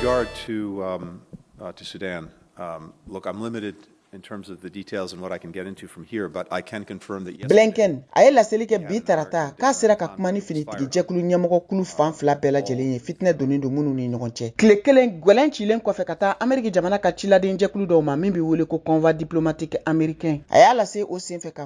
regard to, um, uh, to Sudan, um, look, I'm limited in terms of the details and what I can get into from here, but I can confirm that yesterday. Blinken a ye laseli kɛ bi tarata k'a sera ka kuma ni finitigi jɛkulu ɲɛmɔgɔ kulu fan fila bɛɛ lajɛlen ye fitinɛ donnen don minnu ni ɲɔgɔn cɛ tile kelen gwɛlɛn cilen kɔfɛ ka taa ameriki jamana ka ciladen jɛkulu dɔw ma min bɛ wele ko convoi diplomatique américain a y'a lase o senfɛ ka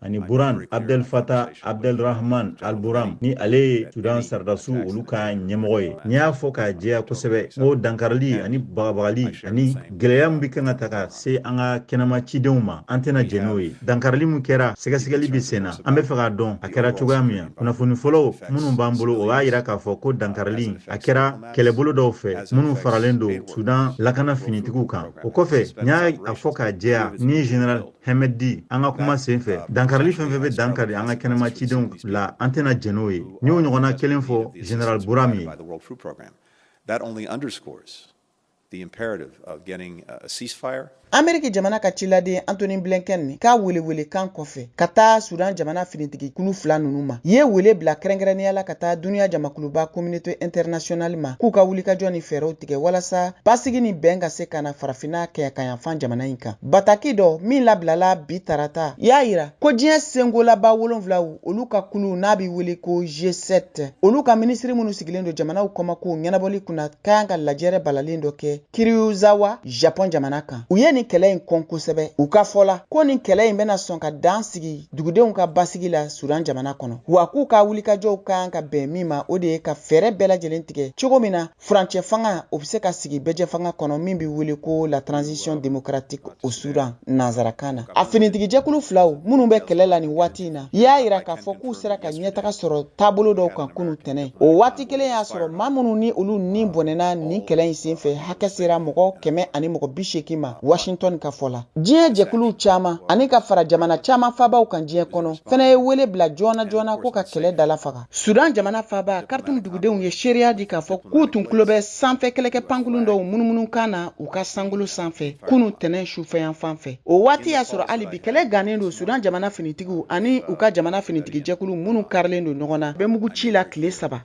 ani burhan abdel fattah abdel rahman al burhan ni ale ye sudan sardasu olu ka ɲɛmɔgɔ ye n y'a fɔ k'a jɛya kosɛbɛ ko dankarili ani bagabagali ani gwɛlɛya min be kan ka taa ka se an ka kɛnɛma cidenw ma an tɛna jɛn n'o ye dankarili min kɛra sɛgɛsɛgɛli be senna an be fɛ k'a dɔn a kɛra cogoya min na kunnafoni fɔlɔw minnu b'an bolo o b'a yira k'a fɔ ko dankarili a kɛra kɛlɛbolo dɔw fɛ minnu faralen don sudan lakana finitigiw kan o kɔfɛ n y'a fɔ k'a jɛya ni general hemedti an ka kuma sen fɛ dankarili fɛn fɛn bɛ dankari an ka kɛnɛma cidenw la an tɛna jɛn n'o ye n y'o ɲɔgɔnna kelen fɔ general burhan ye ameriki jamana ka ciladen antony blinken ka welewelekan kɔfɛ ka taa sudan jamana finitigi kulu fila nunu ma ye wele bila kɛrɛnkɛrɛnnenya la ka taa duniya jamakuluba communauté internationale ma k'u ka wulikajɔ ni fɛɛrɛw tigɛ walasa basigi ni bɛn ka se ka na farafinna kɛɲɛkayanfan jamana in kan. Bataki dɔ min labilala bi tarata y'a yira ko diɲɛ senkolaba wolonwulaw olu ka kulu n'a bɛ wele ko G7 olu ka minisiri minnu sigilen don jamanaw kɔmakow ɲɛnabɔli kunna kan ka lajɛrɛ balalen dɔ kɛ Kiryuzawa, Japɔn jamana kan. U ye nin kɛlɛ in kɔn kosɛbɛ. U ka fɔ la, ko nin kɛlɛ in bɛna sɔn ka dan sigi dugudenw ka basigi la Sudan jamana kɔnɔ, wa k'u ka wulikajɔw kan ka bɛn min ma, o de ye ka fɛɛrɛ bɛɛ lajɛlen tigɛ cogo min na, furancɛ fanga o bɛ se ka sigi bɛɛjɛfanga kɔnɔ min bɛ wele ko la transition démocratique au Soudan nanzarakan na a finitigijɛkulu filaw minnu bɛ kɛlɛ la nin waati in na y'a yira k'a fɔ k'u sera ka ɲɛtaga sɔrɔ taabolo dɔw kan kunu tɛnɛn o waati kelen y'a sɔrɔ maa minnu ni olu ni bɔnɛna nin kɛlɛ in senfɛ hakɛ sera mɔgɔ kɛmɛ ani mɔgɔ bi seegin ma Washington ka fɔ la diɲɛ jɛkulu caman ani ka fara jamana caman faabaw kan diɲɛ kɔnɔ fɛnɛ ye wele bila joona joona ko ka kɛlɛ dalafaga Sudan jamana faaba karitumu dugudenw ye seereya di k'a fɔ k'u tun tulo bɛ sanfɛ kɛlɛkɛ pankulun dɔw munumunu kan na u ka sankolo sanfɛ kunun tɛnɛn sufɛyanfan fɛ o waati y'a sɔrɔ hali bi kɛlɛ gannen don sudan jamana finitigiw ani u ka jamana finitigijɛkulu minnu karilen don ɲɔgɔn na bɛ mugu ci la tile saba